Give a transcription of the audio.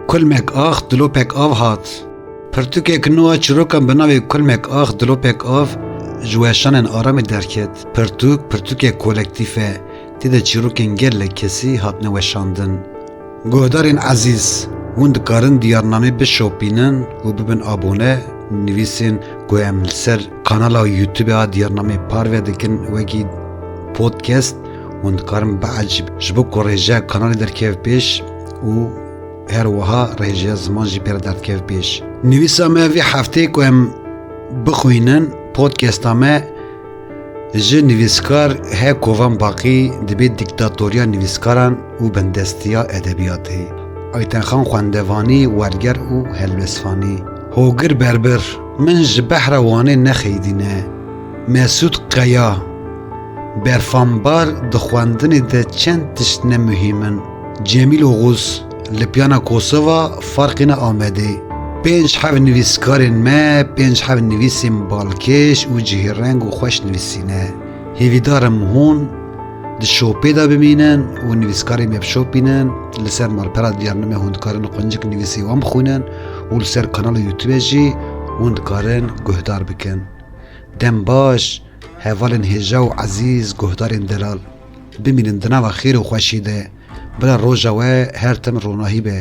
Kulmek ax dilopek av hat. Pirtûkek nû a çîrokan bi navê Kulmek ax dilopek av ji weşanên Aramê derket. Pirtûk, pirtûkek kolektîf e, tê de çîrokên gelek kesî hatine weşandin. Guhdarên ezîz, hûn dikarin diyarnamê bişopînin û bibin abone nivîsên ku em li ser Kanala Youtube a Diyarnamê parve dikin wekî podcast hûn dikarin biecîb ji bo ku rêjeya kanalê derkev pêş û her wiha rêjeya ziman jî pêre derdkev pêş. Nivîsa me vê hefteyê ku em bixwînin podcasta me ji nivîskar He Kovan Baqî dibê dîktatoriya nivîskaran û bindestiya edebiyatê, Aytenxan Xwendevanî, Werger û Helwêsvanî, Hogir Berbir, Min ji behra Wanê nexeydîne. Mesûd Qeya, Berfambar di xwendinê de çend tişt ne muhîm in. Cemîl Oxuz, Li piyana Kosova ferqê ne Amedê. Pênc heft nivîskarên me pênc heft nivîsên balkêş û cihêreng û xweş nivîsîne. Hêvîdar im hûn di şopê de bimînin û nivîskarên me bişopînin. Li ser malpera Diyarnimê hûn dikarin quncik nivîsê wan bixwînin. û li ser kanala Youtubê jî hûn dikarin guhdar bikin. Dem baş hevalên hêja û ezîz guhdarên delal. Bimînin di nava xêr û xweşî de. Bila roja we her tim ronahî be.